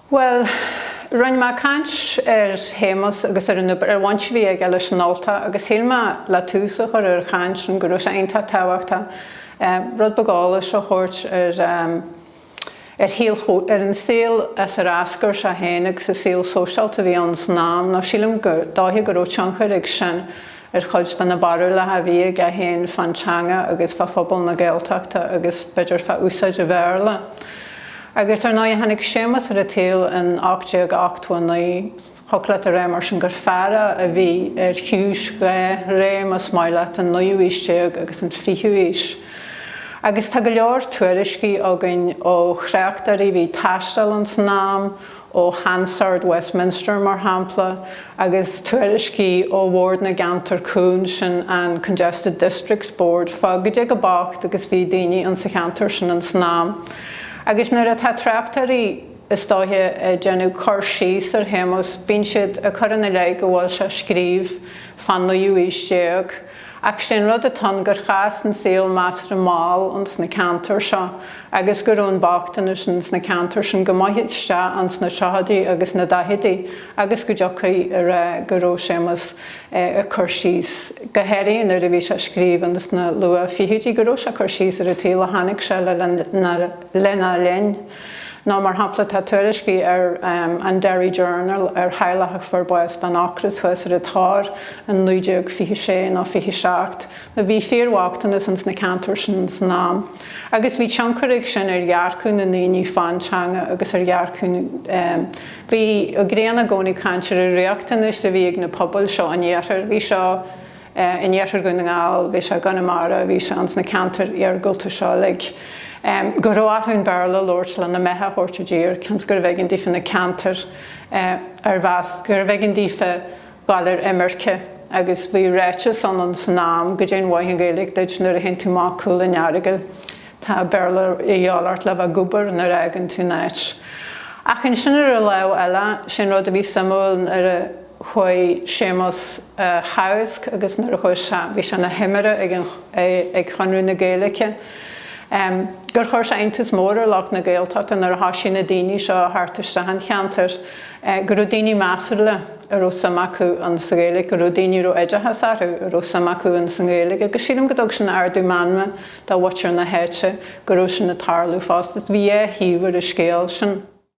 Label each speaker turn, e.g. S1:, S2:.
S1: Bhuel, rinne mé caint ar Shéamus agus ar an obair, ar an bhaint a bhí aige leis an Ultach agus shíl mé le tús a chur ar an chaint sin go raibh sé iontach tábhachtach rud beag eolais a thabhairt ar a shaol, ar an saol as ar eascair sé féin agus an saol sóisialta a bhí ann san am nó sílim gur dóiche go raibh tionchar ag sin ar chuid de na barúlacha a bhí aige féin fán teanga agus fá phobal na Gaeltachta agus, b'fhéidir, fá úsáid an Bhéarla. Agus, ar ndóigh, tháinig Séamus ar an tsaol in 1889. Thiocfadh leat a rá, mar sin, gur fear é a bhí ar chiumhais dhá ré, más maith leat, an naoú haois déag agus an fichiú haois. Agus tá go leor tuairiscí againn ó thráchtairí a bhí ag taisteal ins an am, ó Hansard Westminster, mar shampla, agus tuairiscí ó Bhord na gCeantar Cúng, sin an Congested Districts Board, fá cad é chomh bocht agus bhí daoine insa cheantar sin ins an am. Agus nuair atá tráchtairí, is dóiche, ag déanamh cur síos ar Shéamus, bíonn siad ag cur ina leith go bhfuil sé ag scríobh fán naoú aois déag, Ach sé an rud atá ann gur chas an saol measartha mall ins na ceantair seo agus go raibh an bochtanas ins na ceantair sin go maith isteach ins na tríochaidí agus na daichidí agus go dtiocfaí a rá go raibh Séamus ag cur síos go háirithe nuair a bhí sé ag scríobh ins na luath-fhichidí go raibh sé ag cur síos ar an tsaol a chonaic sé le lena linn. Nó mar shampla tá tuairiscí ar an Derry Journal ar theaghlach a fuair bás den ocras thuas ar an Tor in 1926 nó 27. Nó bhí fíorbhochtanas ins na ceantair sin san am. Agus bhí tionchar ag sin ar dhearcadh na ndaoine fán teanga agus ar dhearcadh na. Bhí Ó Grianna i gcónaí ag caint ar an riachtanas a bhí ag na pobail seo an iarthair. Bhí seo. in iarthar Dhún na nGall, bhí sé i gConamara, bhí sé ins na ceantair iargúlta seo uilig, go raibh orthu an Béarla a labhairt lena mbeatha a thabhairt i dtír cionn is gurbh éigean daofa na ceantair ar mheas gurbh éigean daofa dul ar imirce agus bhí ráiteas ann ins an am cad é an mhaith an Ghaeilge duit nuair a théann tú amach cúl an Earagail tá Béarla a dhíobháil ort le bheith ag obair nuair a fhágann tú an áit. Ach ansin ar an lámh eile, sé an rud a bhí suimiúil nuair a. chuaigh Séamus a theagasc agus nuair a chuaigh sé, bhí sé ina thimire ag Conradh na Gaeilge, gur chuir sé iontas mór ar lucht na Gaeltachta nuair a thoisigh na daoine seo a theacht isteach chun an cheantair, go raibh daoine measúla a raibh suim acu sa Ghaeilge, go raibh daoine a raibh oideachas orthu a raibh suim acu insa Ghaeilge agus sílim go dtug sin ardú meanma do mhuintir na háite go raibh sin ag tarlú fosta. Bhí dhá thaobh ar an scéal sin.